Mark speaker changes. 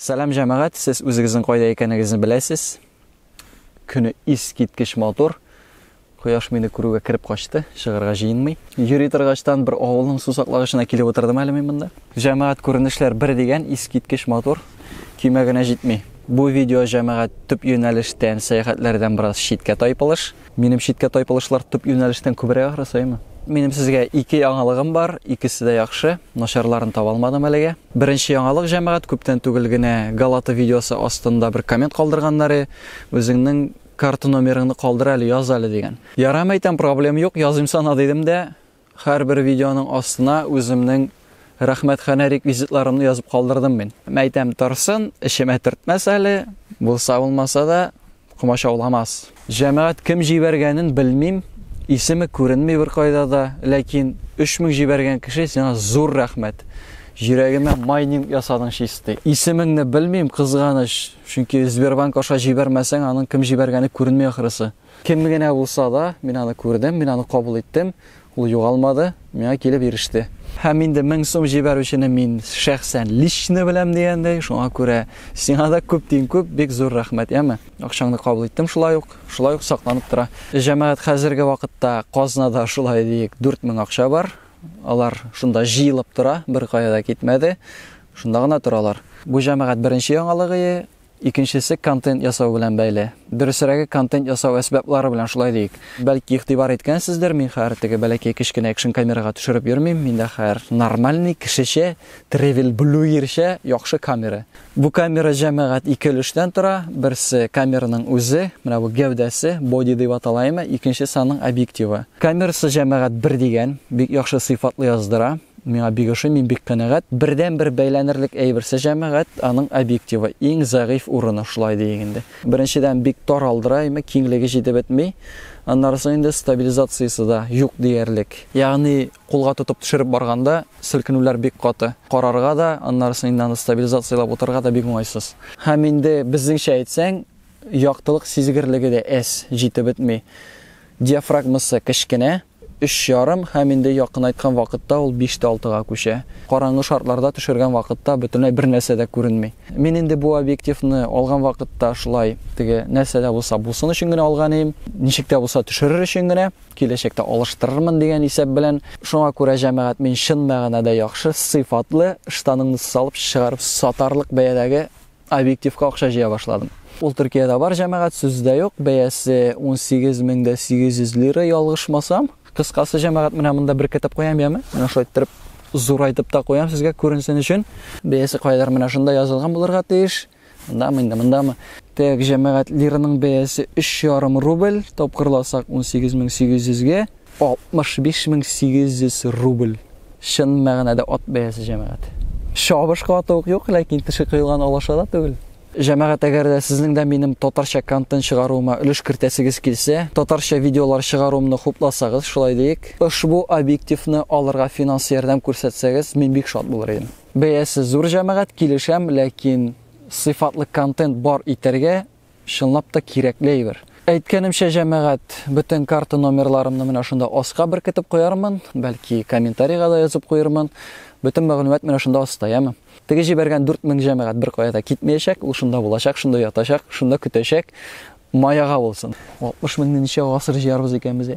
Speaker 1: Сәлам җәмәгать, сез үзегезнең кайда икәнегезне беләсез. Көне ис киткеч матур. Кояш мине күрүгә кереп качты, чыгарга җыенмый. Йөри торгачтан бер авылның сусаклагычына килеп утырдым әле мин монда. Җәмәгать күренешләр бер дигән ис киткеч матур. Көймә генә җитми. Бу видео җәмәгать төп юнәлештән, сәяхәтләрдән бераз читкә тайпылыш. Минем читкә тайпылышлар төп юнәлештән күбрәк ахры саемы? Минем сезгә ике яңалыгым бар, икесе дә яхшы, начарларын таба алмадым әлегә. Беренче яңалык җәмәгать күптән түгел генә Галата видеосы астында бер коммент калдырганнары, үзеңнең карта номерыңны калдыр әле, яз әле дигән. Ярам әйтәм, проблем юк, языйм сана дидем дә, Һәрбер видеоның астына үземнең рәхмәт ханә реквизитларымны язып калдырдым мин. Мәйтәм торсын, эчемә төртмәс әле, булса булмаса да комачауламас. Җәмәгать кем җибәргәнен белмим, исеме күренми беркайда да, ләкин 3000 җибәргән кеше сиңа зур рәхмәт. Йөрәгемә майнинг ясадың чисти. Исемеңне белмим, кызганыч, чөнки Сбербанк аша җибәрмәсәң, аның кем җибәргәне күренми ахрысы. Кем генә булса да, мин аны күрдем, мин аны кабул иттем, ул югалмады, миңа килеп иреште. Һәм инде мең сум җибәрүчене мин шәхсән лично беләм дигәндәй, шуңа күрә сиңа да күп тиң күп, бик зур рәхмәт, яме. Акчаңны кабул иттем шулай ук, шулай ук сакланып тора. Җәмәгать хәзерге вакытта казнада шулай диек 4000 акча бар. Алар шунда җыелып тора, бер кая да китмәде. Шунда гына торалар. Бу җәмәгать беренче яңалыгы Икенчесе контент ясау белән бәйле. Дөресрәге контент ясау әсбаплары белән шулай диик. Бәлки игътибар иткәнсездер, мин хәер теге бәләкәй кечкенә экшн камерага төшереп йөрмим, миндә хәер нормальный кешечә тревел блюерча яхшы камера. Бу камера җәмәгать ике өлештән тора, берсе камераның үзе, менә бу гәүдәсе, боди дип атала име, икенчесе аның объективы. Камерасы җәмәгать бер дигән, бик яхшы сыйфатлы яздыра. Миңа бик ошый, мин бик канәгать. Бердәнбер бәйләнерлек әйберсе җәмәгать, аның объективы. Иң зәгыйфь урыны, шулай диик инде. Беренчедән, бик тар алдыра, әйме, киңлеге җитеп бетми. Аннары соң инде стабилизациясе дә юк диярлек. Ягъни, кулга тотып төшереп барганда, селкенүләр бик каты. Карарга да, аннары соң инде аны стабилизацияләп утырырга да бик уңайсыз. Һәм инде, безнеңчә әйтсәң, яктылык сизгерлеге дә әз, җитеп бетми. Диафрагмасы кечкенә. Өч ярым һәм инде якынайткан вакытта ул биш тә алтыга күчә. Караңгы шартларда төшергән вакытта бөтенләй бер нәрсә дә күренми. Мин инде бу объективны алган вакытта шулай теге нәрсә дә булса булсын өчен генә алган идем. Ничек тә булса төшерер өчен генә, киләчәктә алыштырырмын дигән исәп белән. Шуңа күрә, җәмәгать, мин чын мәгънәдә яхшы, сыйфатлы, ыштаныңны салып чыгарып сатарлык бәядәге Объективка акча җыя башладым. Ул Төркиядә бар җәмәгать, сүз дә юк. Бәясе 18 мең дә 800 лира, ялгышмасам. Кыскасы, җәмәгать менә монда бер китеп куям яме. Менә шулай иттереп зурайтып та куям сезгә күренсен өчен. Бәясе кайдыр менә шунда язылган булырга тиеш. Мондамы инде, мондамы? Так, җәмәгать лираның бәясе 3,5 рубль, тапкырласак 18800 гә. 65 мең 800 рубль. Чын мәгънәдә ат бәясе, җәмәгать. Чабышкы аты ук юк, ләкин теше кыелган алаша да түгел. Җәмәгать, әгәр дә сезнең дә минем татарча контент чыгаруыма өлеш кертәсегез килсә, татарча видеолар чыгаруымны хупласагыз, шулай диик, ошбу объективны алырга финанс ярдәм күрсәтсәгез, мин бик шат булыр идем. Бәясе зур, җәмәгать, килешәм, ләкин сыйфатлы контент бар итәргә, Чынлап та кирәкле әйбер. Әйткәнемчә, җәмәгать, бөтен карта номерларымны менә шунда аска беркетеп куярмын, бәлки комментарийга да язып куермын. Бөтен мәгълүмат менә шунда аста, яме. Теге җибәргән 4000 җәмәгать беркая да китмәячәк, ул шунда булачак, шунда ятачак, шунда көтәчәк. Маяга булсын. 60 меңне ничә гасыр җыярбыз икән без?